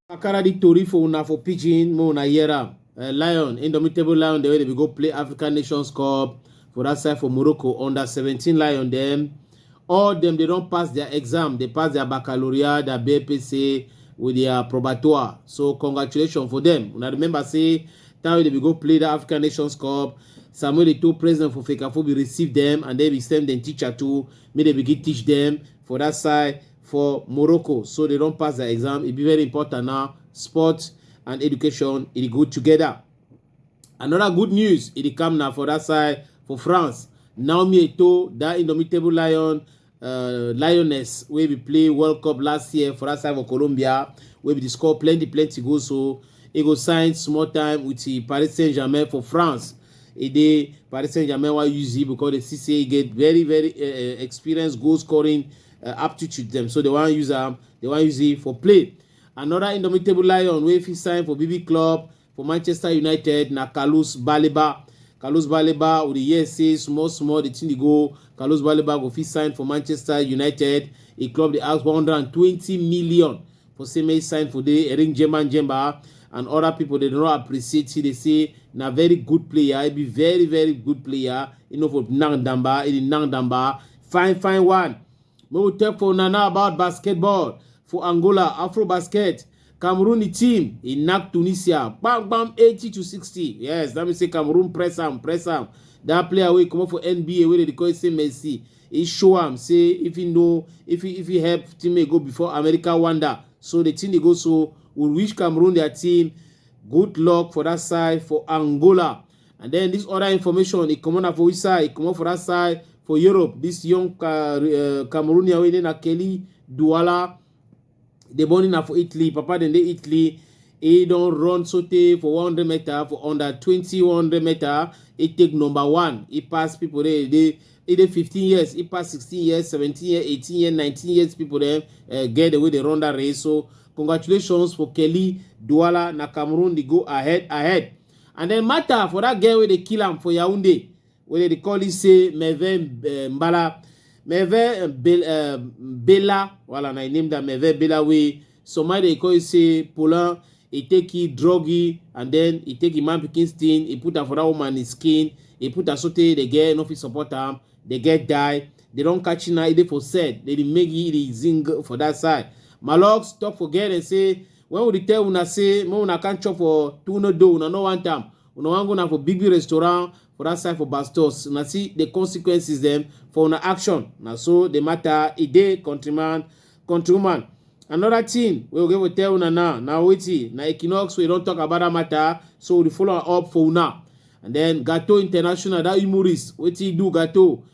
I carry the tori for una for pidgin make una hear am uh, lion indomitable lion dem wey dey go play africa nations cup for that side for morocco under 17 lion dem all dem dey don pass their exam dey pass their baccalaureate their bpc with their probatoire so congratulations for them una remember say Time wey dem go play that African Nations Cup, Samuel Eto'o president for Fekafo be receive them and then be send them teacher too. May they begin teach them for that side for Morocco. So they don't pass the exam. It be very important now. Sports and education it go together. Another good news it come now for that side for France. Naomi Eto, that indomitable lion, uh, Lioness wey be play World Cup last year for that side for Colombia wey be dey score plenty plenty goals so e go sign small time with the Paris Saint-Germain for France. E dey Paris Saint-Germain wan use e because they see say e get very very uh, experienced goal scoring uh, aptitude dem so they wan use am they wan use e for play. Another indomitable lion wey fit sign for BB club for manchester united na carlos baleba carlos baleba we dey hear say small small the thing dey go carlos baleba go fit sign for manchester united a club dey ask 120 million for say make he sign for the ring jemba jemba and other people dey no appreciate he dey say na very good player he be very very good player he no for nang damba he dey nang damba fine fine one Make we talk for una now about basketball for Angola, Afro Basket. Cameroon the team e knack Tunisia bam bam 80 to 60. Yes, that means say Cameroon press am, press am. That player wey comot for NBA wey dey call say Messi, e show am say if he know if he if he help teammate go before America wonder. So the thing dey go so we wish Cameroon their team good luck for that side for Angola. And then this other information, it come on for which side? It come on for that side for Europe. This young uh, uh, Cameroonian wey na Kelly Douala, they born in for Italy. Papa then they Italy. He don't run sote for 100 meter for under 20 100 meter. He take number one. He pass people there. They either 15 years, he pass 16 years, 17 years, 18 years, 19 years. People there uh, get the way they run that race. So congratulations for Kelly Douala na Cameroon. They go ahead, ahead. And then matter for that girl wey dey kill am for Yaoundé, wey dey dey call it say Merve eh, Mbala, Merve eh, Bel- eh, Bella, wala na I name that Merve Bella wey somebody dey call it say Polan, he take it druggy and then he take him man pikin skin, he put am for that woman his skin, he put am sotey the girl no fit support am, the girl die, they don catch na e dey for set, they dey make it dey zing for that side. Malox talk for girl and say When we dey tell una say make una come chop for Tune Do, una no want am. Una wan go na for big big restaurant for that side for Bastos. Una see the consequences dem for una action. Na so the matter e dey countryman, countrywoman. Another thing wey we go even tell una now na wetin na Equinox wey don talk about that matter so we dey follow am up for una. And then Gato International that humorist wetin he do Gato